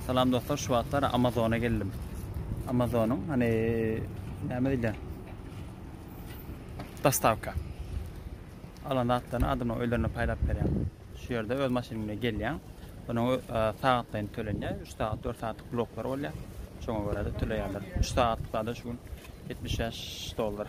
Salam dostlar, şu wagtlar Amazona geldim. Amazonyň hani näme diýilýär? Dostavka. Alan zatlaryny adamlar öýlerine paýlap berýär. Şu ýerde öz maşynyň bilen gelýär. Onuň e, sagatlaýyn tölenýär. 3 sagat, 4 sagatlyk bloklar bolýar. Şoňa görä-de töleýärler. 3 sagatlyk zada şu gün 75 dollar.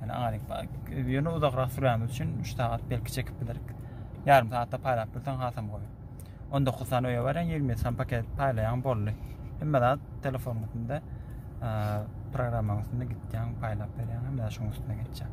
Yani aýdyň, ýöne uzakrak sürýämiz üçin 3 sagat belki çekip bilerik. Ýarym sagatda paýlap bilseň hasam gowy. 19 sany öýe barýan, 20 sany paket paýlaýan boldy. Hemme zat telefonyň üstünde, programmaň üstünde gitýän paýlap berýän, hemme zat şoň üstüne geçýän.